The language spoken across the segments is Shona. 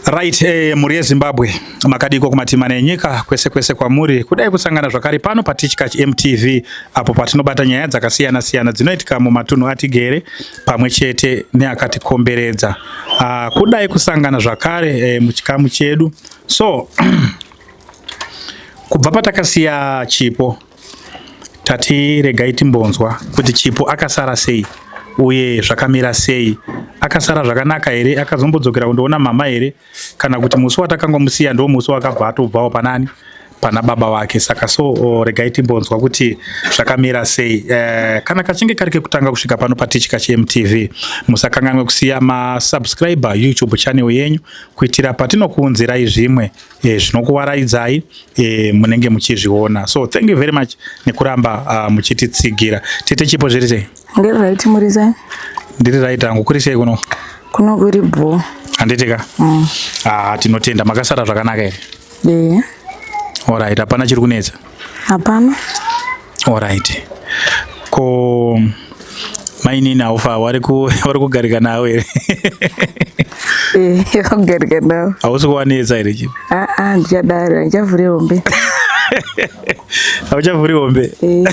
Right, eh, mhuri yeZimbabwe makadiko kumatima nenyika kwese kwese kwamuri kudai kusangana zvakare pano patichkach MTV apo patinobata nyaya dzakasiyana siyana dzinoitika mumatunhu atigere pamwe chete neakatikomberedza ah, kudai kusangana zvakare eh, muchikamu chedu so kubva patakasiya chipo tati regai timbonzwa kuti chipo akasara sei uye zvakamira sei akasara zvakanaka here akazombodzokera kundoona mama here kana kuti musi watakanga musiya ndo musi wakabva atobvawo panani pana baba vake saka so oh, regai timbonzwa kuti zvakamira sei eh, kana kachinge kari kekutanga kusvika pano patichika chemtv musakanganwe kusiya masubscriber youtube channel yenyu kuitira patinokuunzirai zvimwe e, zvinokuwaraidzai e, munenge muchizviona so thank you very much nekuramba uh, muchititsigira tete chipo zviri sei ndiri right muri sei ndiri right hangu kuri sei kuno kuno kuri bho handitika mm. ah, tinotenda makasara zvakanaka here yeah. orit hapana chiri kunetsa hapana alright ko mainini haufa wari kugarika navo here eh, vakugarika navo hausi kuwanetsa here chi aa ah, ah, ndichadaro handichavhuri hombe hauchavhuri hombe eh.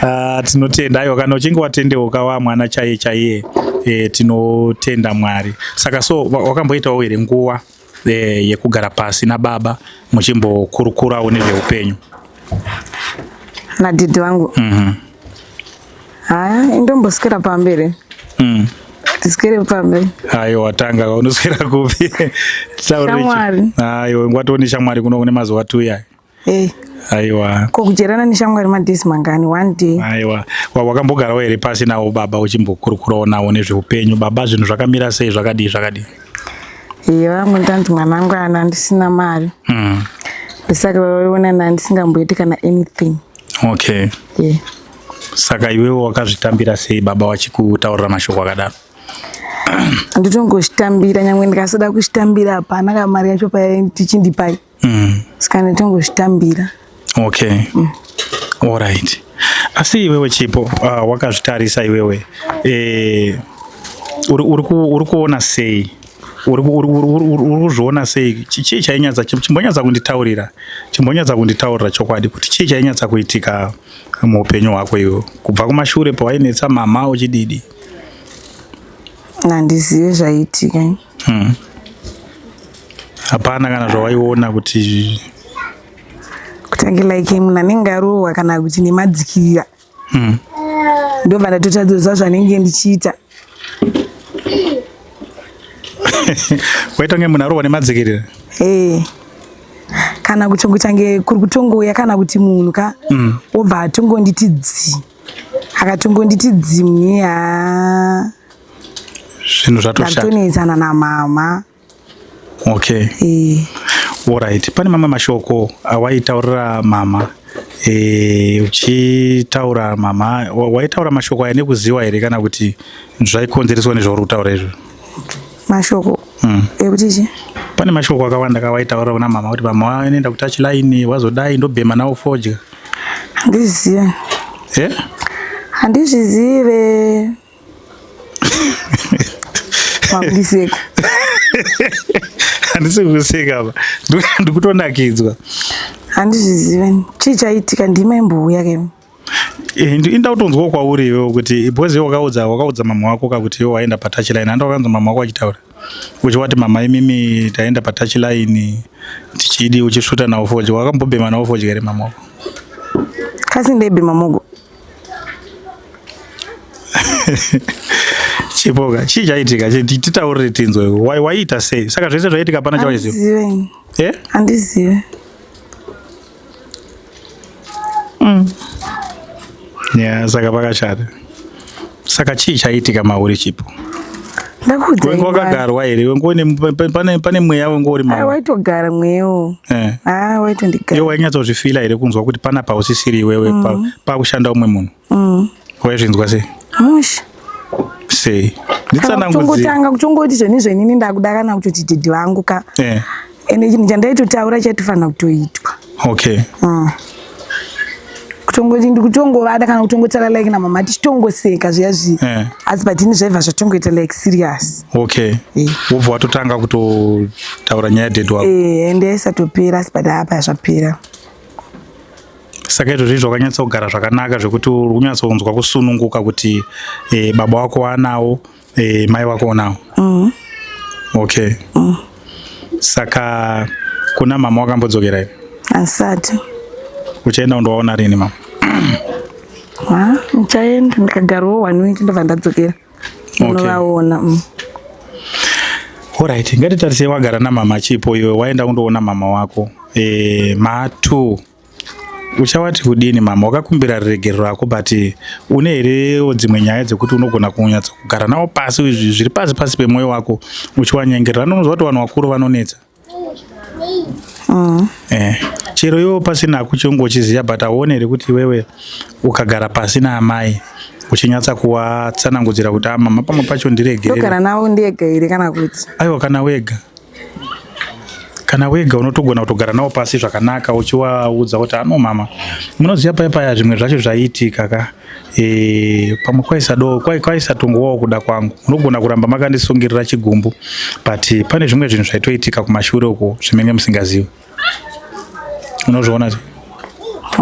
ah, tinotenda aiwa kana uchinge watendeuka wa mwana chaiye chaiye eh, tinotenda mwari saka so wakamboitawo here nguva eh, yekugara pasi nababa muchimbokurukurawo nezveupenyu nadhidhi vangu mm -hmm. haya indombosikira pamberi mm. tiswere pambe ayo watanga unoswera kupi shamwari ayo ngwatoni shamwari kuno kune mazuva tuya Hey. Aiwa. Ko kujerana neshamwari madhesi mangani one day. Aiwa. Wakambogarawo here pasi nawo baba uchimbokurukurawo nawo nezveupenyu baba zvinhu zvakamira sei zvakadii zvakadii? Iye vangu ndanzi mwana wangu ana ndisina mari. Mm. Ndisaka vaiona na ndisingamboiti kana anything. Okay. Yeah. Saka iwewe wakazvitambira sei baba wachikutaurira mashoko akadaro? Nditongozvitambira nyangwe ndikasada kuzvitambira hapana kamari yacho patichindipai. mm. ska ndotongozvitambira okay mm. all right asi iwewe chipo uh, wakazvitarisa iwewe eh, uri kuona sei uri kuzviona sei chii chainyatsa chimbonyatsa kunditaurira chimbonyatsa kunditaurira chokwadi kuti chii chainyatsa kuitika muupenyu hwako iwo kubva kumashure pawainetsa mama uchididi handizive zvaiitika Hmm. Hapana kana zvawaiona kuti kutange like munhu anenge arohwa kana kuti nemadzikira hmm. ndobva ndatotadzoza zvanenge ndichiita waitonge munhu arohwa nemadzikirira eh. kana kuti kutange kuri kutongouya kana kuti munhu ka hmm. wobva atongonditi dzi akatongonditi dzi mnye haa zvinhu zvatoshatonetsana namama okay e. orit pane mamwe mashoko awaitaurira mama e, uchitaura mama waitaura mashoko aya nekuziwa here kana kuti zvaikonzereswa nezvauri kutaura izvo mashoko mm. ekuti chi pane mashoko akawanda kawaitaura kuna mama kuti mama wanoenda kutachi laini wazodai ndobhema nawo fodya handizive eh? handizvizive makuiseko handisi kuseka apa ndikutonakidzwa handizvizive chii chaitika ndima imbouya ke eh, inda kutonzwawo kwauri iwewo kuti because iwe wakaudza wakaudza mama wako ka kuti iwe waenda patouch line handa wakanzwa mama wako achitaura uchi wati mama imimi taenda patouch line tichidi uchisvuta nawo fodya wakambobhema nawo fodya here mama wako kasi ndebhema mogo chipoka chii chaitika titaurire tinzwe waiita sei saka zvese zvaiitika pana chawaiziva eh? handizive mm. ya saka pakashata Saka chii chaiitika mauri chipo? Ndakuudza. Wengo wakagarwa here? Wengo ne pane pane mweya wengo uri mauri. Waitogara mweyo. Eh. Ah, waitondigara. Yo wainyatso zvifila here kunzwa kuti pana pausisiri iwewe mm. pa pa kushanda umwe munhu. Mm. Waizvinzwa sei? Mush. Sei. Nditsanangudzira. Kutanga kutongoti zveni zvenini ndakuda kana kuti didi vangu ka. Eh. ende chinhu chandaitotaura chatifanira kutoitwa okay mm. kutongoti ndikutongovada kana kutongotaura like na mama tichitongoseka zviya zviya yeah. asi but ini zvaiva zvatongoita like serious okay eh. wobva yeah. watotanga kutotaura nyaya date wako eh, ende yaisatopera asi but apa yazvapera saka izvozvi zvakanyatsa kugara zvakanaka zvekuti uri kunyatsonzwa kusununguka kuti e, baba wako waanawo Eh, mai wako unawo? Mm. Okay. Mm. Saka kuna mama wakambodzokera here? Asati. Uchaenda undoona rini mama? Ah, uchaenda ndikagarowo one week ndobva ndadzokera. Okay. Unovaona. Mm. Alright, ngatitarise wagara na mama chipo iwe waenda undoona mama wako. Eh, matu uchawati kudini mama wakakumbira riregero rako but une herewo dzimwe nyaya dzekuti unogona kunyatsa kugara nawo pasi izvi zviri pasi pasi pemwoyo wako uchiwanyengerera anononzwa kuti vanhu vakuru vanonetsa mm. eh, chero iwo pasina kuchongo uchiziva but auone here kuti iwewe ukagara pasi naamai uchinyatsa kuwatsanangudzira kuti amama ah, pamwe pacho ndiregerera navo ndega here kana kuti aiwa kana wega kana wega unotogona kutogara nawo pasi zvakanaka uchiwaudza kuti ano mama munoziva paya paya zvimwe zvacho zvaiitika ka e, pamwe kwaisado kwaisatongowawo kuda kwangu munogona kuramba makandisungirira chigumbu but pane zvimwe zvinhu zvaitoitika kumashure uko zvimenge musingazivi unozviona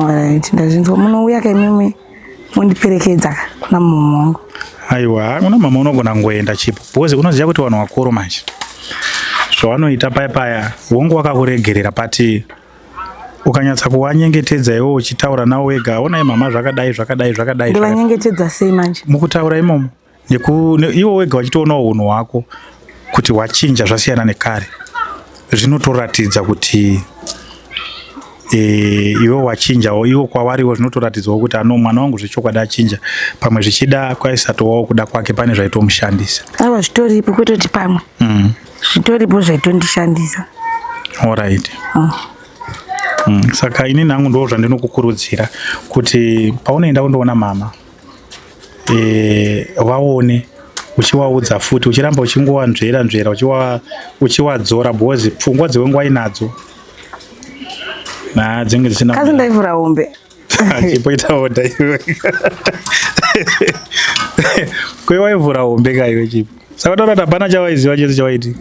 right ndazvinzwa munouya ka imimi mundiperekedza kuna mama wangu aiwa kuna mama unogona kungoenda chipo because unoziva kuti vanhu vakuru manje zvavanoita paya paya wongo wakakuregerera pati ukanyatsa kuwanyengetedza iwo uchitaura nawo wega onai mama zvakadai zvakadai zvakadai ndivanyengetedza sei manje mukutaura imomo iwo wega wachitoonawo unhu hwako kuti hwachinja zvasiyana nekare zvinotoratidza kuti e, iwe wachinjawo iwo kwawariwo zvinotoratidzawo kuti ano mwana wangu zvechokwadi achinja pamwe zvichida kwaisatowawo kuda kwake pane zvaitomushandisa awa zvitoripo kwetoti pamwe mm. zvitoripo zvaitondishandisa orit oh. mm. saka ini nangu ndoo zvandinokukurudzira kuti paunoenda kundoona mama eh, vaone e, uchiwaudza futi uchiramba uchingowanzvera nzvera uchiwadzora because pfungwa dzewe nguva inadzo na dzinge dzisina kazi ndaivhura hombe chipoita oda iwe kwewaivhura hombe kaiwe chipo saka taura kuti hapana chawaiziva chese chawaitika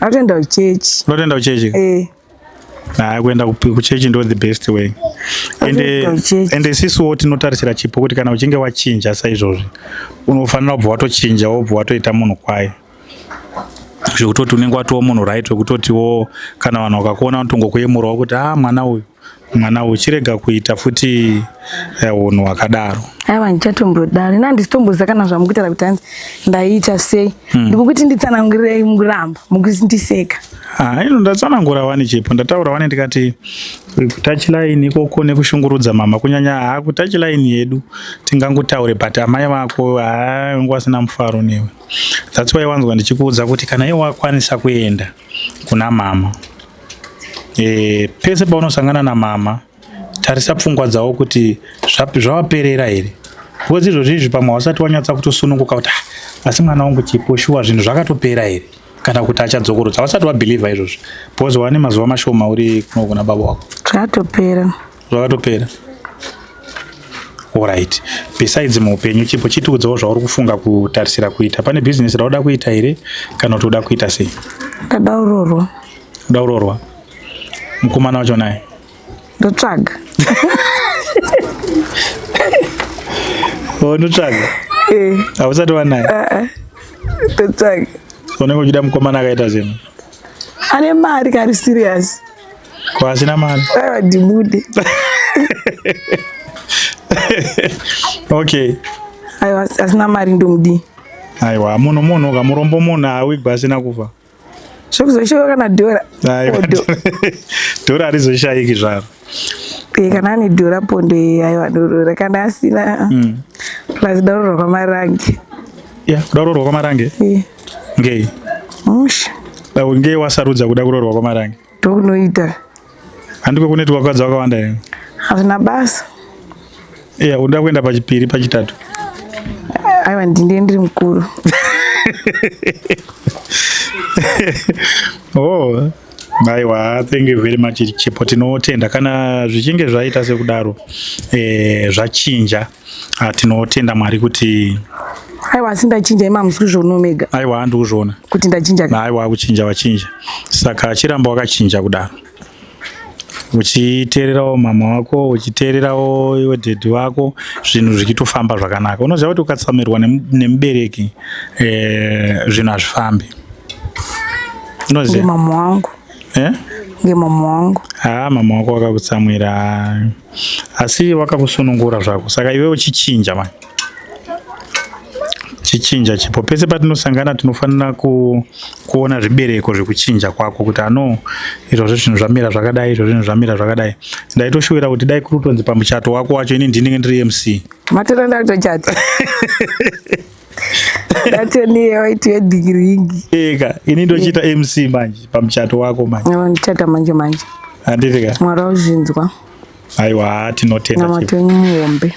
Ndatenda kuchechi. Ndatenda kuchechi. Eh. Nah, kuenda kuchechi ndo the best way. And and sisi wo tinotarisira chipo kuti kana uchinge wachinja saizvozvi unofanira kubva watochinja wobva watoita munhu kwaye. Zvekutoti unenge watowa munhu right wekutoti wo kana vanhu vakakuona vanotongokuyemurawo kuti ah mwana uyu mwana uyu chirega kuita futi eh, hunhu hwakadaro aiwa ndichatombodaro ini handisitomboziva kana zvamukuitara kuti hanzi ndaiita sei hmm. ndikukuti nditsanangurei muramba mukundiseka ah, ino ndatsanangura wani chipo ndataura wani ndikati kutachilaini ikoko nekushungurudza mama kunyanya haa kutachilaini yedu tingangotaure but amai vako haa ungu asina mufaro newe that's why wanzwa ndichikuudza kuti kana iwe wakwanisa kuenda kuna mama e, pese paunosangana namama tarisa pfungwa dzavo kuti zvavaperera here because izvozvi izvi pamwe hausati wanyatsa kutosununguka kuti ah, asi mwana wangu chipo shuwa zvinhu zvakatopera here kana kuti achadzokorodza hausati wabhilivha izvozvi because wane mazuva mashoma uri kunogona baba wako zvatopera zvakatopera orit besides muupenyu chipo chitiudzawo zvauri kufunga kutarisira kuita pane bhizinesi rauda kuita here kana kuti uda kuita sei ndada urorwa uda urorwa mukomana wacho naye ndotsvaga unotsvaga oh, eh. hausati wanaye eh, eh. ndotsvaga unenge uchida mukomana akaita zvinhu ane mari kari serious Ko asina mari. Aiwa ndibude. Okay. Aiwa asina mari ndomudi. Aiwa munhu munhu kamurombo munhu awigwa asina kufa. Zvokuzoshaika kana dhora. Aiwa. Dhora harizoshaiki zvaro. Eh kana ane dhora pondo aiwa dorora kana asina. Mm. Plus dorora kwamarange. Yeah, dorora kwamarange. Yeah. ngei musha dai ngei wasarudza kuda kuroorwa kwamarange ndokunoita handiko kuneti wakadzi wakawanda here hazvina basa iya unoda kuenda pachipiri pachitatu aiwa ndindiye ndiri mukuru oh aiwa thank you very much chipo tinotenda kana zvichinge zvaita sekudaro eh, zvachinja Ah, tinotenda mwari kuti aiwa asi ndachinja ima hamusi kuzviona omega aiwa handi kuzviona kuti ndachinja ka aiwa kuchinja wachinja saka chiramba wakachinja kudaro uchiteererawo mama wako uchiteererawo iwe dhedhi wako zvinhu zvichitofamba zvakanaka unoziva kuti ukatsamirwa nemu- nemubereki eh, zvinhu hazvifambi unoziva ngemama wangu eh? ngemama wangu haa mama wako wakakutsamwira asi wakakusunungura zvako saka iwe uchichinja mani chichinja chipo pese patinosangana tinofanira ku, kuona zvibereko zvekuchinja kwako kuti ano izvozvo zvinhu zvamira zvakadai izvozvo zvinhu zvamira zvakadai ndaitoshuwira kuti dai kuri kutonzi pamuchato wako wacho ini ndinenge ndiri mc matirenda kutochata ndatonewaitiwe dhigiringi eka ini ndochiita mc manje pamuchato wako manje ndichata manje manje handitika mwari wauzvinzwa aiwa tinotenda namati wenyu muhombe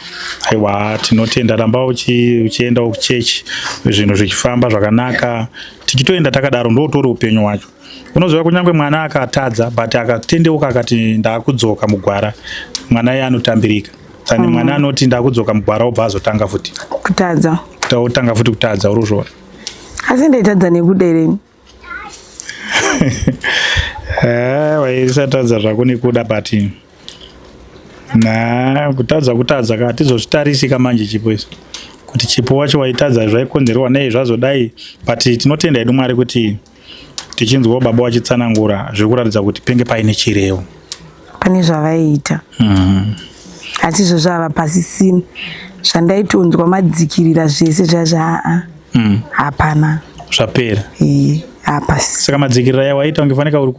aiwa tinotenda ramba uchienda kuchechi zvinhu zvichifamba zvakanaka tichitoenda takadaro ndotori upenyu hwacho unoziva kunyange mwana akatadza but akatendeuka akati ndakudzoka mugwara mwana iye anotambirika Sani mm. mwana anoti ndakudzoka mugwara obva azotanga futi kutadza otanga futi kutadza uri kuzviona asi ndaitadza nekuda ireni eh, waisatadza zvako nekuda but na kutadza kutadza ka tizozvitarisika manje chipo iso kuti chipo wacho waitadza zvaikonzerwa nei zvazodai but tinotenda hedu mwari kuti tichinzwawo baba vachitsanangura zviri kuratidza kuti penge paine chirevo pane zvavaiita mm. asi izvo zvava pasisini zvandaitonzwa madzikirira zvese zvazvaa mm. hapana zvapera hapasi saka madzikirira yawaita ungefanika uri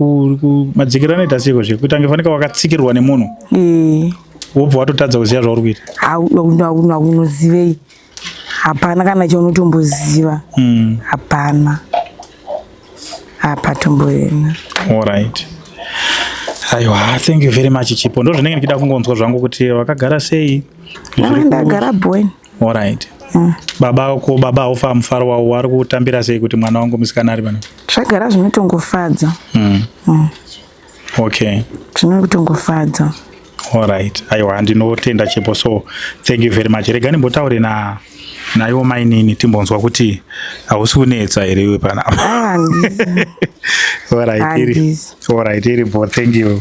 madzikirira anoita siko zve kuita ungefanika wakatsikirwa nemunhu wobva watotadza kuziva zvauri kuita haunozivei hapana kana chaunotomboziva hmm. hapana hapatomboena alright aiwa thank you very much chipo ndo zvinenge ndichida kungonzwa zvangu kuti wakagara sei ndagara boen alright hmm. baba ko baba haufa mufaro wavo wari kutambira sei kuti mwana wangu musikana ari pano zvagara zvinotongofadza mm. mm. okay zvine kutongofadza alright aiwa ndinotenda chepo so thank you very much rega ndimbotaure na naiwo mainini timbonzwa kuti hausi kunetsa here iwe panapa alright iri bo thank you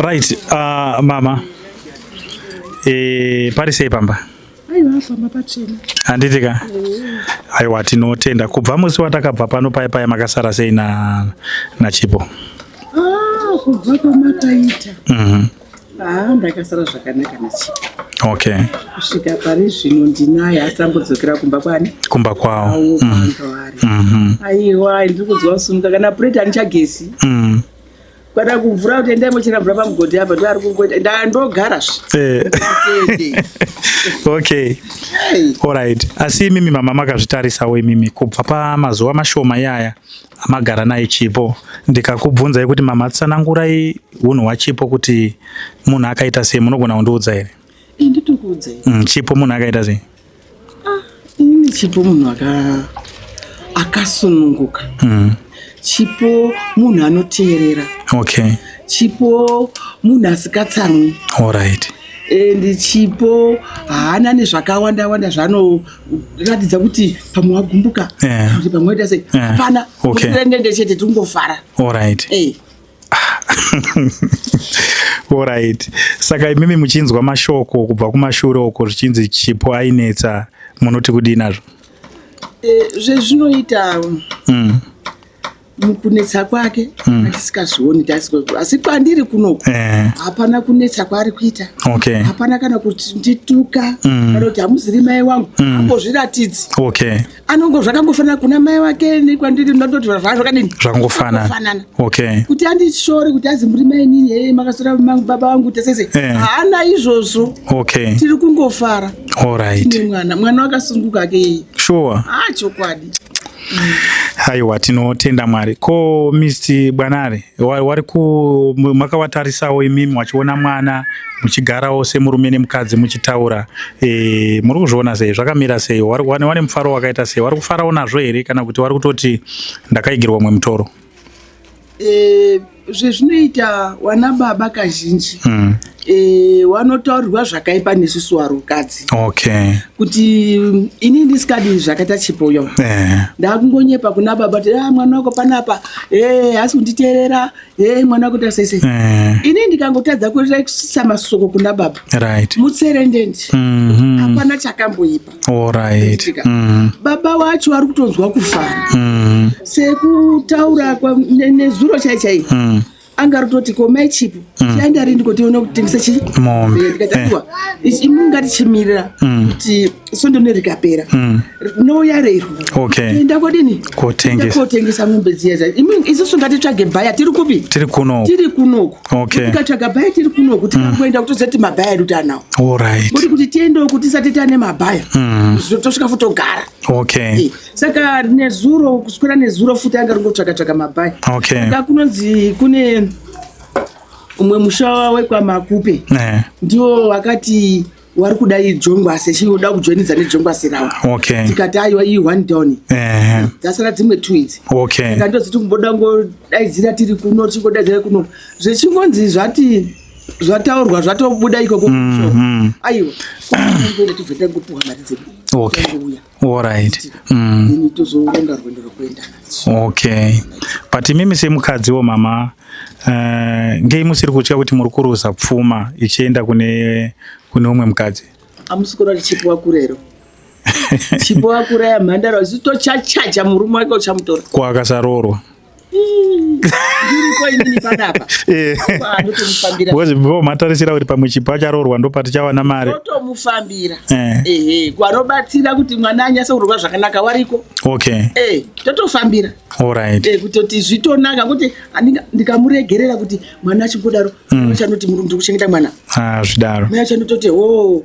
Right, uh, mama e, pari sei pamba? handiti ka aiwa tinotenda kubva musi watakabva pano paye paye makasara sei na, na chipo ah, kubva kwamakaita mm -hmm. ah, ndakasara zvakanaka na chipo okay kusvika pari zvino ndinaye asi ambodzokera kumba kwani kumba kwawo mm. mm -hmm. aiwa ndiri kunzwa kusununga kana pureti anichagesi mm. Kwada kumvura kuti endai mochera mvura pamugodhi apa ndoari kungoita ndaa ndogara zve. Eh. Okay. Hey. Alright. Asi imimi mama makazvitarisawo imimi kubva pamazuva mashoma iyaya amagara naye Chipo ndikakubvunzai kuti mama tsanangurai hunhu hwaChipo kuti munhu akaita sei munogona kundiudza here? Nditokuudzei. Mm, chipo munhu akaita sei? Ah, ini chipo munhu aka akasununguka. Mm. Chipo munhu anoteerera. Okay. Chipo munhu asikatsamwi. All right and chipo haana nezvakawanda wanda zvanoratidza kuti pamwe wagumbuka kuti pamwe waita sei hapana ndendende chete tingofara allright Alright. Saka imimi muchinzwa mashoko kubva kumashure uko zvichinzi chipo ainetsa munoti kudii nazvo? Eh, zvezvinoita mm. mukunetsa kwake mm. tisikazvioni asi kwandiri kunoku eh. hapana kunetsa kwaari kuita okay. hapana kana kuti ndituka mm. kana kuti hamuziri mai wangu mm. ambozviratidzi okay. anongo zvakangofanana kuna mai wake nekwandiri ndototi zvazvakadini zvakangofanana okay kuti andishore kuti azi muri mai nini hee makasora baba vangu tesese eh. haana izvozvo okay tiri kungofara alright tine mwana mwana wakasunguka ake yeye sure ah chokwadi aiwa tinotenda mwari ko mr bwanare wari ku makavatarisawo imimi wachiona mwana muchigarawo semurume nemukadzi muchitaura e, muri kuzviona sei zvakamira sei wari kuwane wane mufaro wakaita sei wari kufarawo nazvo here kana kuti wari kutoti ndakaigirwa umwe mutoro e, zvezvinoita wana baba kazhinji mm. e, wanotaurirwa zvakaipa nesusu warukadzi okay. kuti ini ndisikadi zvakaita chipo yo yeah. ndakungonyepa kuna baba kuti ah, mwana wako panapa eh hasi kunditeerera eh mwana wako ta sese eh. ini ndikangotadza kuisa masoko kuna baba right mutserendendi mm -hmm. apana chakamboipa all right mm -hmm. baba wacho ari kutonzwa kufara mm -hmm. sekutaura nezuro chaichai mm -hmm anga rutoti ko mai chipo mm. tienda ri ndiko tione kutengesa chi mombe eh, ndikataiwa eh. imu ngati chimirira mm. kuti sondo ne rikapera mm. no yarero okay tienda kodini kotengesa kotengesa mombe dziya dza imu isu sunga titsvage baya tiri kupi tiri kuno tiri kuno okay tikatsvaga baya tiri kuno kuti tikaenda kuti zati mabaya edu tanawo all right kuti kuti tiende kuti tisati tane mabaya zvotosvika futogara okay eh. saka nezuro kuswera nezuro futi anga ringotsvaka tsvaka mabhayi okay. saka kunonzi kune umwe musha wekwamakupe eh. ndiwo wakati wari kuda ijongwase chioda kujoinidza nejongwase rawo okay. tikati aiwa iyi one down eh. dzasara dzimwe two idzi okay. saka ndoziti kumboda ngodaidzira tiri kuno tichingodaidzira kuno zvechingonzi zvati zvataurwa zvatobuda ikoko mm -hmm. aiwa kuenda tizoenda kupuwa mari dzedu okay. Alright. Mm. Ini tozoronga rwendo rwekuenda nacho. Okay. But imimi semukadziwo mama uh, ngei musiri kutya kuti muri kuruza pfuma ichienda kune kune umwe mukadzi? Amusi kuda chipiwa kurero. Chipiwa kuraya mhandara zito chachaja murume wake uchamutora. Kwa akasaroorwa. because before matarisira kuti pamwe chipo acharoorwa ndopatichava namari totomufambira eh. ehe kwarobatsira kuti mwana anyase kurorwa zvakanaka wariko okay eh totofambira alright eh kutoti zvitonaka kuti ndikamuregerera kuti mwana achingodaro mm. chanoti murundu kuchengeta mwana ah zvidaro mwana chanototi oh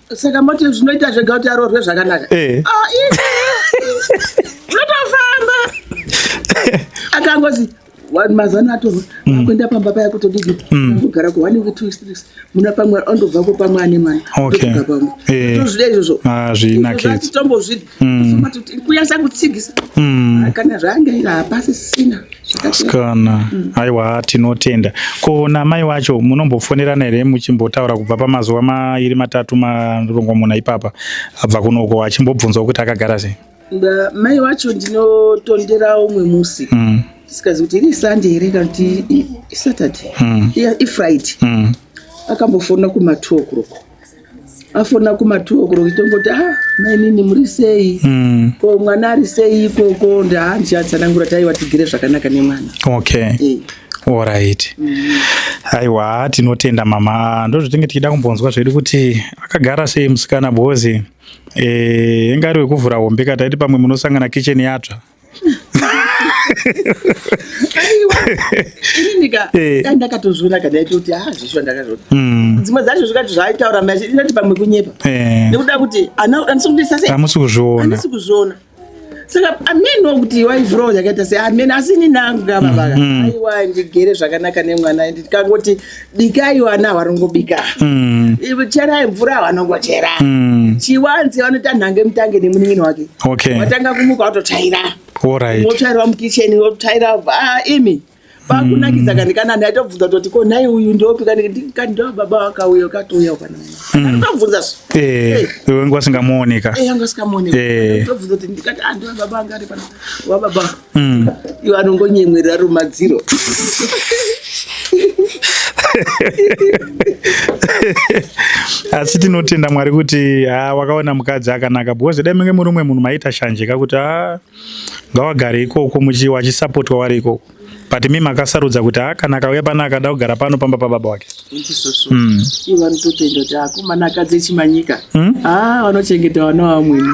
saka moti zvinoita zvega kuti aroorwe zvakanaka eh. ah, zvotofamba akangozi mazano atorwa mm. akuenda pamba paya kutodii mm. kugara ku one week two weeks muna pamwe andobvako pamwe ane mwana tozvida izvozvo hazvinaketombozvida Mm. kuya zangu tsigisa mm. kana zvange ira hapasi sisina sikana mm. aiwa tinotenda ko namai wacho munombofonerana here muchimbotaura kubva pamazuva mairi matatu marongomuna ipapa abva kunoko achimbobvunzwa kuti akagara sei mai wacho ndinotondera umwe musi mm. sikazi kuti iri sande here kana kuti isaturday mm. ifriday mm. akambofonera kuma two o'clock afona kuma two o'clock ndongoti a ah, mainini muri sei mm. ko mwana ari sei ikoko ndahanzi atsanangura taiva tigere zvakanaka nemwana okay yeah. Alright. Mm. Aiwa tinotenda mama ndozvitenge tichida kumbonzwa zvedu kuti akagara sei musikana bozi eh ingari wekuvhura hombe kataiti pamwe munosangana kitchen yatsva ndakatozviona kadaitoti ha zvisho ndakazviona hmm. dzimwe dzacho zvikati zvaaitaura macho inati pamwe kunyepa eh. nekuda kuti amusi kuzviona saka amene wakuti waizvurawo yakaita sei amene asi ini nangu kavavaka hmm, hmm. aiwa ndigere zvakanaka nemwana ndikangoti bikai vana vanongobika mm. cherai mvura vanongochera mm. chiwanzi vanoita nhange mutange nemunin'ini wake okay. vatanga kumuka vatotsvaira right. votsvairwa mukicheni votsvaira ah, imi pakunakidza mm. kani kana nhi atobvunza toti ko nhai uyu ndiopi kani ndo baba wakauya ukatouya ukana mm. tobvunza eh, eh. wanga usingamuoneka eh, anga usingamuoneka tobvunza kuti ndikati andiwa ah, baba anga ari pana wababa mm. iwo anongonyemwerera rumadziro asi tinotenda mwari kuti ha ah, wakaona mukadzi akanaka because dai menge muri umwe munhu maita shanje kakuti ha ah, ngawagare ikoko wachisapotwa wari ikoko but mi makasarudza kuti ha ah, kana akauya pano akada kugara pano pamba pababa wake hmm. ivo anototenda kuti akomana akadzi echimanyika hmm? vanochengeta vana vamweni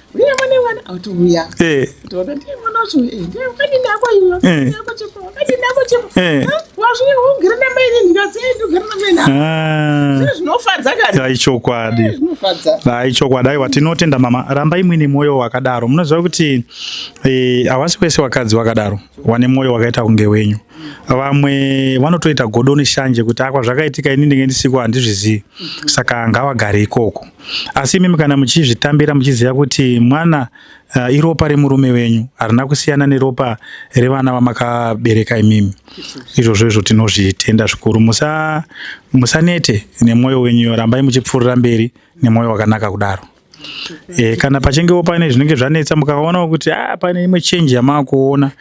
uye mune mwana auti uya eh. ndiona ndiye mwana wacho uye eh, ndiye kadi ndako iyo eh. ndako chiko kadi ndako chiko wazviye ugere na mai nini ndikazi eh ndugere na mai nini ah. zvino zvinofadza kani dai chokwadi zvinofadza dai chokwadi aiwa tinotenda mama ramba imwe ne moyo wakadaro munoziva kuti eh hawasi kwese wakadzi wakadaro wane moyo wakaita kunge wenyu vamwe vanotoita godo neshanje kuti akwa zvakaitika ini ndinge ndisiko handizvizivi saka ngawagare ikoko asi imimi kana muchizvitambira muchiziva kuti mwana uh, iropa remurume wenyu harina kusiyana neropa revana vamakabereka imimi izvozvo izvo tinozvitenda zvikuru musa musanete nemwoyo wenyu rambai muchipfuurira mberi nemwoyo wakanaka kudaro E, kana pachingewo pane zvinenge zvanetsa mukaonawo kuti a ah, pane imwe chenji yamaakuona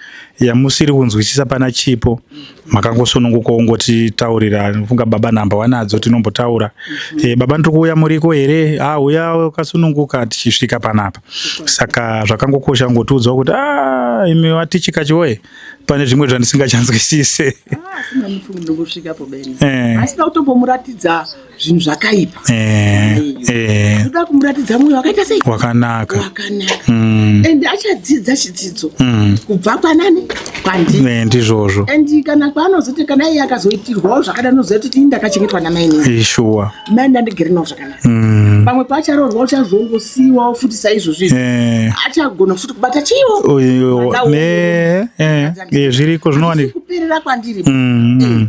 yamusiri kunzwisisa pana chipo makangosununguka ongotitaurira funga baba nhamba wanadzo tinombotaura mm -hmm. e, baba ndiri kuuya muriko here ah, uya wakasununguka tichisvika panapa saka zvakangokosha kungotiudzawo kuti ah, imi watichika chiwoye pane zvimwe zvandisingachanzwisise ah, zvinhu zvakaipa eh, eh. kuda kumuratidza mwoyo wakaita sei wakanaka wakanaka mm. and achadzidza chidzidzo mm. kubva kwanani kwandii eh, ndizvozvo and kana kwaanozoti kana iye akazoitirwawo zvakadai unozoita kuti ndakachengetwa namainini shuwa mai ndandigere nawo zvakanaka mm. pamwe paacharoorwa uchazongosiiwawo futi saizvozvo izvo achagona futi kubata chiiwo zviriko zvinowanika kuperera kwandiri mm, mm.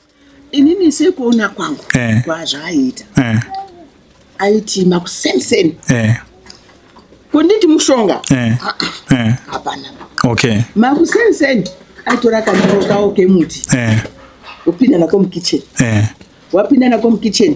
inini sekuona kwangu eh. kwazvaaita eh. aiti makusenseni eh. kunditi mushonga eh. Ah, ah. eh. hapana eh. eh. okay. makusenseni aitora kanyoro kawo kemuti eh. upinda nako mukitchen eh. wapinda nako mukitchen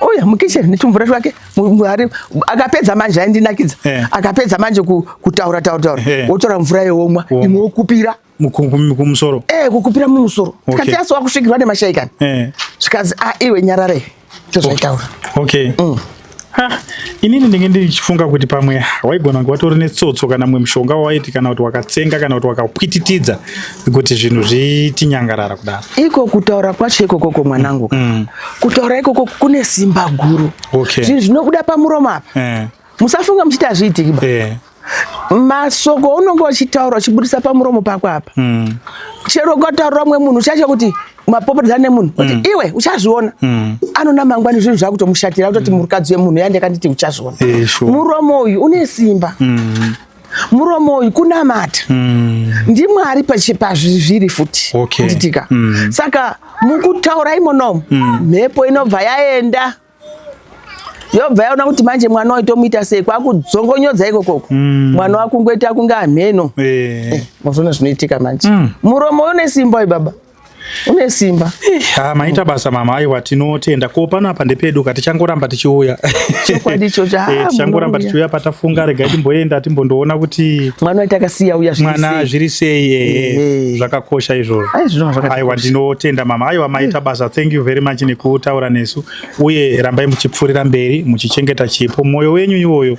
Oya mukitchen netumvura twake muhari akapedza manje aindinakidza eh. akapedza manje kutaura taura taura eh. wotora mvura yewomwa oh. imwe wokupira kumusoro eh kukupira mumusoro tikati okay. asiwa kusvikirwa nemashaikani eh. zvikazi a ah, iwe nyarare tozvaitaura okay, okay. Mm. Ha, inini ndinge ndichifunga kuti pamwe waigona kunge watori netsotso kana mumwe mushonga wawaiti kana kuti wakatsenga kana kuti wakapwititidza kuti zvinhu zvitinyangarara kudaro iko kutaura kwacho ikokoko mwanangu mm. mm. kutaura ikoko kune simba guru okay. zvinhu zvinobuda pamuromo apa eh. musafunga muchiti hazviitiki ba eh. masoko unonge uchitaura uchibudisa pamuromo pako apa mm. chero ukataurira mumwe munhu uchaitya kuti mapopotedza nemunhu kuti mm. iwe uchazviona mm. anona mangwani zvinhu zvakutomushatira kutoti mm. murikadzi wemunhu yandikanditi uchazviona muromo uyu une simba mm. muromo uyu kunamata mm. ndimwari pazviri futi okay. nditika mm. saka mukutaura imonomo mm. mhepo mm. inobva yaenda yobva yaona kuti manje mwana uyu tomuita sei kwakudzongonyodza ikokoko mm. mwana wakungoita kunge amheno eh. eh, mozona zvinoitika manje mm. muromo uyu une simba uyu baba une simba ha maita basa mama aiwa tinotenda ko pano apa ndepedu ka tichangoramba tichiuya chokwadi icho cha eh, tichangoramba tichiuya patafunga rega timboenda timbondoona kuti mwana waita akasiya uya zviri mwana zviri sei eh, eh, eh. zvakakosha izvozvo aiwa ndinotenda mama aiwa maita hmm. basa thank you very much nekutaura nesu uye rambai muchipfuurira mberi muchichengeta chipo mwoyo wenyu iwoyo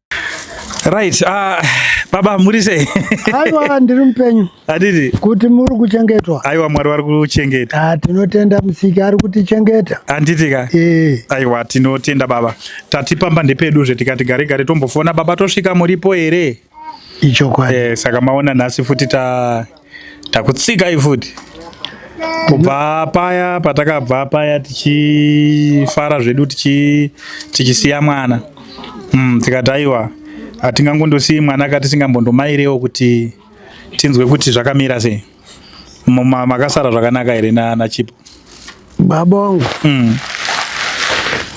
Right, uh, baba muri sei? Aiwa ndiri mupenyu. Adidi. Kuti muri kuchengetwa. Aiwa Mwari vari kuchengeta. Ah, tinotenda musiki ari kutichengeta. Anditi ka? Eh. Aiwa tinotenda baba. Tatipamba ndepedu zve tikati gare gare tombofona baba tosvika muripo here? Ichokwadi. Eh, saka maona nhasi futi ta takutsikai futi kubva paya patakabva paya tichifara zvedu tichisiya mwana mm, tikati aiwa hatingangondosiyi mwana ka tisingambondomairewo kuti tinzwe kuti zvakamira sei makasara zvakanaka here nachipo baba wangu mm.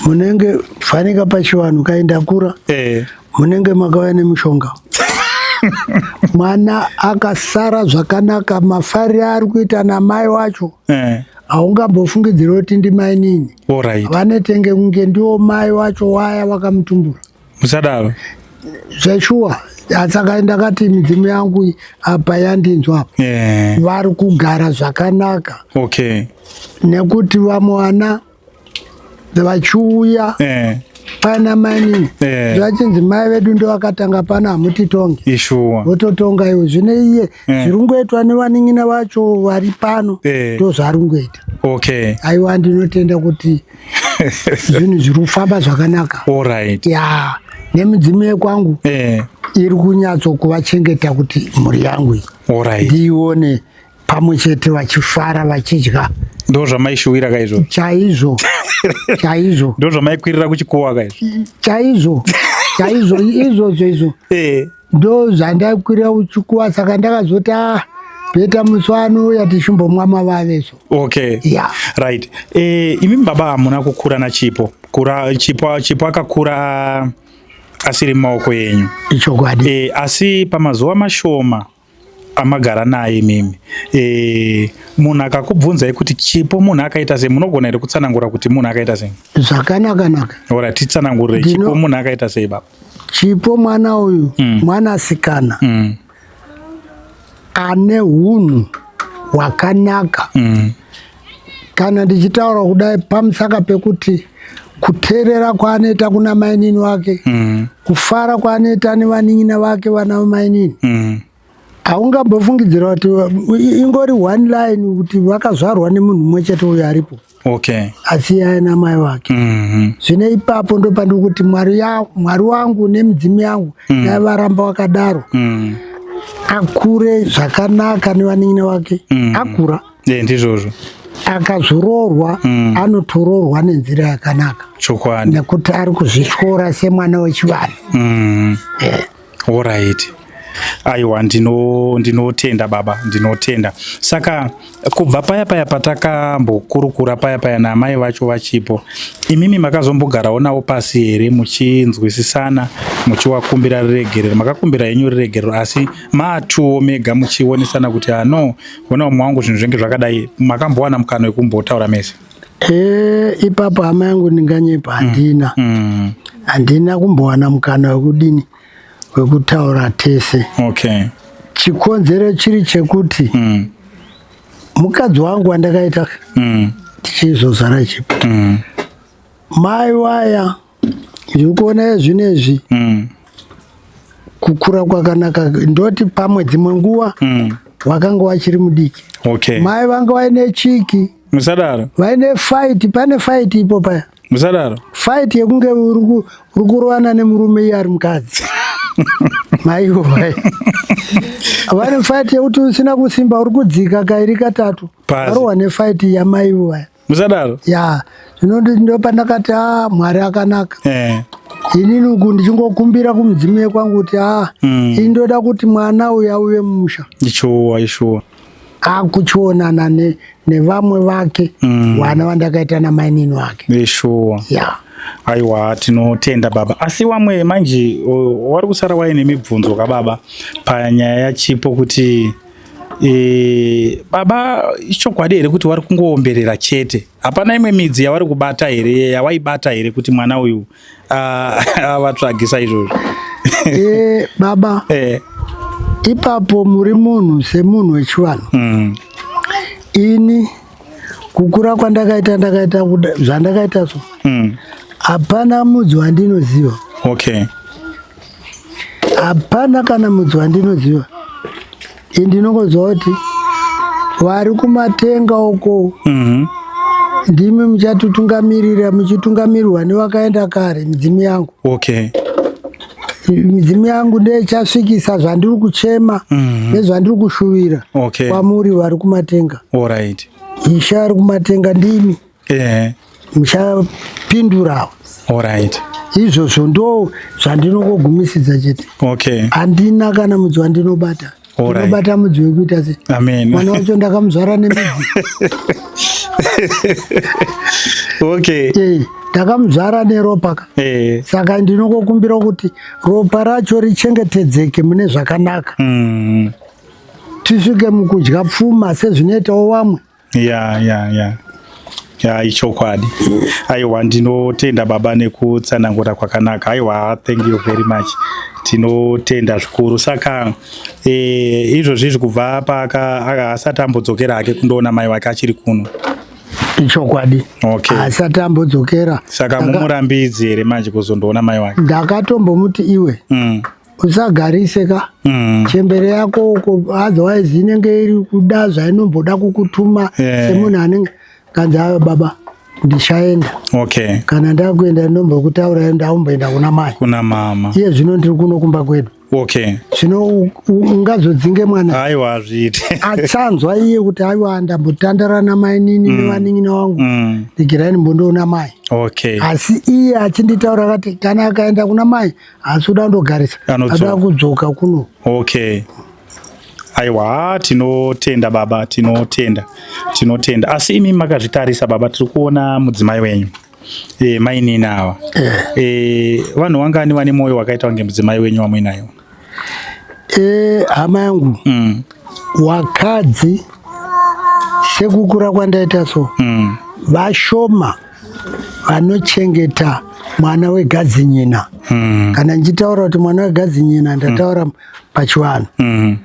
munenge fanika pachivanhu kaindakura eh. munenge makauya nemushonga mwana akasara zvakanaka mafari ari kuita namai wacho eh. haungambofungidziri kuti ndimainini vanetenge kunge ndiwo mai wacho waya wakamutumbura musadaro zveshuwa saka ndakati midzimu yangu apa yandinzwa apa yeah. vari kugara zvakanaka okay. nekuti vamwe vana vachiuya yeah pana mainini yeah. zvachinzi mai vedu ndovakatanga pano hamutitonge ishuwa vototonga iwe zvine iye Eh. zviri kungoitwa nevanin'ina vacho vari pano eh. ndo zvaari kungoita okay aiwa ndinotenda kuti zvinhu zviri kufamba zvakanaka allright ya nemidzimu yekwangu eh. iri kunyatso kuvachengeta kuti mhuri yangu iyi ndiione pamwe chete vachifara vachidya ndo zvamaishuwira kaizvo chaizvo chaizvo ndo zvamaikwirira kuchikowa kaizvo chaizvo chaizvo izvozvo izvo ndo zvandakwira uchikuwa saka ndakazoti ah, beta musi wanouya tichimbomwa mavave so okay yeah. right e, eh, imi baba hamuna kukura na chipo kura chipo chipo akakura asiri mumaoko yenyu ichokwadi e, asi pamazuva mashoma amagara naye imimi e, munhu akakubvunzai kuti chipo munhu akaita sei munogona here kutsanangura kuti munhu akaita sei zvakanakanaka ora titsanangurire chipo munhu akaita sei baba Chipo mwana uyu mm. mwana asikana mm. ane hunhu hwakanaka mm. kana ndichitaura kudai pamusaka pekuti kuteerera kwaanoita kuna mainini wake mm. kufara kwaanoita nevanin'ina vake vana vamainini mm. haungambofungidzira kuti ingori one line kuti vakazvarwa nemunhu mumwe chete uyo aripo okay. asiyaye namai vake mm-hmm. zvine mm -hmm. ipapo ndopandiri kuti mwari, mwari wangu nemidzimu yangu mm. dai mm. varamba wakadaro mm. akure zvakanaka nevanin'ina vake mm. akura yeah, ndizvozvo akazoroorwa mm. anotoroorwa nenzira yakanaka chokwadi nekuti ari kuzvityora semwana wechivanhu mm. yeah. Alright. Aiwa ndino ndinotenda baba ndinotenda. Saka kubva paya paya patakambokurukura paya paya naamai vacho vachipo imimi makazombogarawo navo pasi here muchinzwisisana muchiwakumbira riregerero makakumbira henyu riregerero asi matuwo mega muchionesana kuti ano ah, hona umwe wangu zvinhu zvenge zvakadai makambowana mukana wekumbotaura mese? Eh, ipapo hama yangu ndinganyepa mm. handina mm. handina kumbowana mukana wekudini wekutaura tese okay. chikonzero chiri chekuti mm. mukadzi wangu wandakaita mm. tichizozara chipo mm. mai waya mm. ndikuona zvinezvi mm. kukura kwakanaka ndoti pamwe dzimwe nguva mm. wakanga wachiri mudiki okay. mai vanga vaine chiki musadaro vaine fight pane fight ipo paya musadaro fight yekunge uri kurovana nemurume iye ari mukadzi maivo mai vane fight yekuti usina kusimba uri kudzika kairi katatu varohwa nefight yamaivo vaya musadaro ya zvino ndopandakati a ah, mwari akanaka eh. inini uku ndichingokumbira kumudzimu yekwangu kuti a ah, mm. ini ndoda kuti mwana uyu auve mumusha ishuwa ishuwa akuchionana ne, nevamwe vake mm. wana vandakaita namainini wake ishuwa yeah. Aiwa, tinotenda baba. Asi wamwe manje wari kusara waine mibvunzo kababa panyaya yachipo kuti E, baba ichokwadi here kuti wari kungoomberera chete hapana imwe midzi yavari kubata here yawaibata here kuti mwana uyu avatsvagisa izvozvo e, baba e. ipapo muri munhu semunhu wechivanhu mm. ini kukura kwandakaita ndakaita zvandakaita so mm. hapana mm. mudzi wandinoziva okay hapana kana mudzi wandinoziva i ndinongonzwa kuti vari kumatenga uko mm -hmm. ndimi muchatitungamirira muchitungamirirwa nevakaenda kare midzimu yangu okay midzimu yangu ndeichasvikisa zvandiri kuchema mhm. nezvandiri kushuvira kwamuri vari kumatenga ishe ari kumatenga ndimi muchapindurawo izvozvo ndo zvandinokogumisidza chete handina kana mudzi wandinobata ndinobata mudzi wekuita se mwana wacho ndakamuzvara nemidzi okay eh, ndakamuzvara neropa ka eh. saka ndinokukumbira kuti ropa racho richengetedzeke mune zvakanaka mm. tisvike mukudya pfuma sezvinoitawo vamwe ya ya ya ya ichokwadi aiwa ndinotenda baba nekutsanangura kwakanaka aiwa thank you very much tinotenda zvikuru saka e, izvozvi izvi kubva paaka aka- asati ambodzokera hake kundoona mai wake achiri kuno ichokwadi Okay. asati ambodzokera saka Ndaka- mumurambidzi here manje kuzondoona mai wake ndakatombomuti iwe mm. usagarise ka mm. chembere yako uko otherwise inenge iri kuda zvainomboda kukutuma yeah. semunhu anenge kanzi ayo baba ndichaenda okay. kana ndakuenda ndombokutaura ndaumboenda kuna mai kuna mama iye zvino ndiri kuno kumba kwedu okay. zvino ungazodzinge mwana aiwa azviiti achanzwa iye kuti aiwa ndambotandara namainini mm. nevanin'ina wangu mm. ndigirai ndimbonoona mai okay. asi iye achinditaura kati kana akaenda kuna mai asi uda ndogarisa ada kudzoka kuno okay aiwa tinotenda baba tinotenda tinotenda asi imi makazvitarisa baba tiri kuona mudzimai wenyu e, mainini ava e, vanhu wangani vane mwoyo wakaita kunge mudzimai wenyu wamuinayo e, hama yangu mm. wakadzi sekukura kwandaita so mm. vashoma mm. vanochengeta mwana wegadzinyina mm. kana ndichitaura kuti mwana wegadzinyina ndataura mm. pachivanhu mm.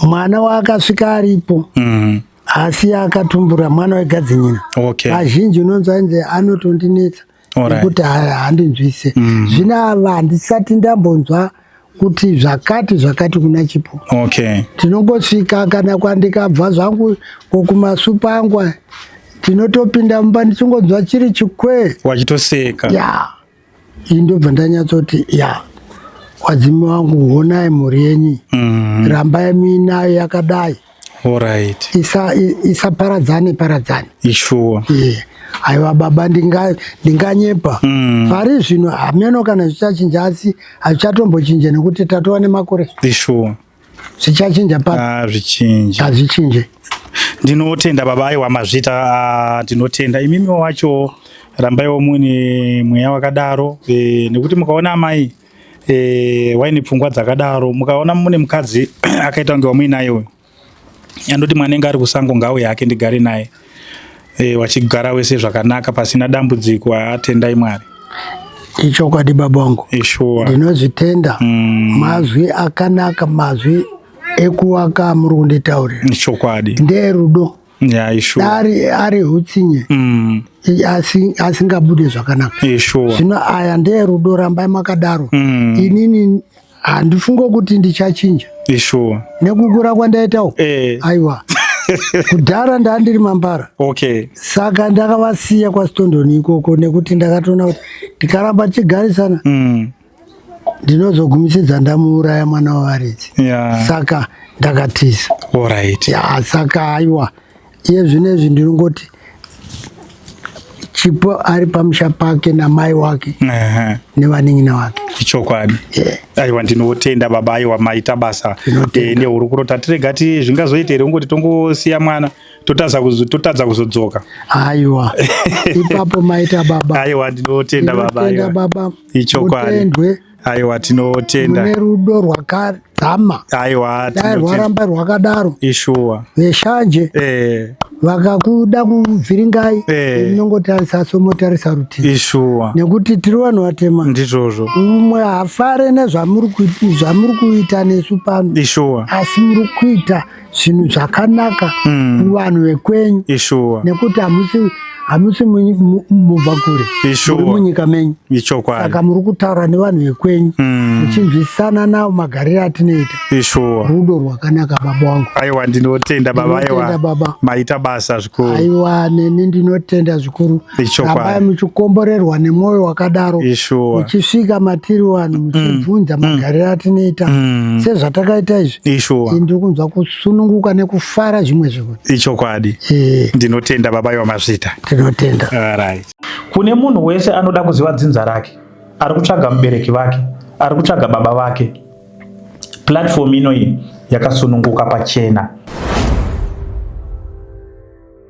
mwana waakasvika aripo mm. asi akatumbura mwana wegadzinyina okay. vazhinji unonzi ainzi anotondinetsa nekuti right. handinzwise mm. zvino ava handisati ndambonzwa mm. kuti zvakati zvakati kuna chipo okay. tinongosvika kana kwandikabva zvangu kokumasupa angu tinotopinda mumba ndichingonzwa chiri chikwe wachitoseka ya iyi ndobva ndanyatsoti ya wadzimi wangu honai mhuri yenyu mm -hmm. rambai muinayo yakadai Alright. Isa isa paradzane paradzane. Ishuwa. Yeah. Aiwa baba ndinga ndinganyepa. Mm. Pari zvino hameno kana zvichachinja asi hazvichatongochinje nekuti tatova nemakore. Ishuwa. Zvichachinja pa. Ah, zvichinje. Hazvichinje. Ndinotenda baba aiwa mazvita ah, ndinotenda imimi wacho rambaiwo mune mweya wakadaro e, nekuti mukaona amai eh, waine pfungwa dzakadaro mukaona mune mukadzi akaita kunge wamuinaye uyu andoti mwana enga ari kusango ngawo yake ndigare naye eh, wachigara wese zvakanaka pasina dambudziko atendai mwari ichokwadi baba wangu ishuwa ndinozvitenda mm. mazwi akanaka mazwi ekuwaka muri kunditaurira ichokwadi ndeerudo ari ari hutsinye mm. asingabude zvakanaka zvino aya ndeye rudo rambai makadaro mm. inini handifungo kuti ndichachinja nekukura kwandaitawo eh. aiwa kudhara ndandiri mambara okay. saka ndakavasiya kwasitondoni ikoko nekuti ndakatoona kuti ndikaramba tichigarisana mm. ndinozogumisidza ndamuuraya mwana wavaridzi yeah. saka ndakatiza right. yeah, saka aiwa iye zvino izvi ndinongoti chipo ari pamusha pake namai wake uh -huh. nevanin'ina wake ichokwadi yeah. aiwa ndinotenda baba aiwa maita basa eh, nehurukuro tatirega ti zvingazoita here ungoti tongosiya mwana totadza kuzodzoka aiwa ipapo maita baba aiwa ndinotenda baba, baba. ichokwadi aiwa tinotenda mune rudo rwakadzama aiwa dai rwaramba rwakadaro ishuwa veshanje eh vakakuda kuvhiringai eh. inongotarisa hey. somotarisa rutivi ishuwa nekuti tiri vanhu vatema ndizvozvo umwe hafare nezvamuri kuita nesu pano ishuwa asi muri kuita zvinhu zvakanaka mm. kuvanhu mm. vekwenyu nekuti hamusi hamusi mubva kure muri munyika menyu saka muri kutaura nevanhu vekwenyu mm. muchinzwisisana navo magarire atinoita rudo rwakanaka baba wangu aiwa ndinotenda baba aiwa maita basa zvikuru aiwa neni ndinotenda zvikuru rambai muchikomborerwa nemwoyo wakadaro muchisvika matiri vanhu mm. muchibvunza mm. magariro atinoita mm. sezvatakaita izvi ndiri kunzwa kusununguka nekufara zvimwe zvinhu ichokwadi eh. ndinotenda baba iwa mazvita tinotenda kune munhu wese anoda kuziva dzinza rake ari kutsvaga mubereki vake ari kutsvaga baba vake platform inoyi yakasununguka pachena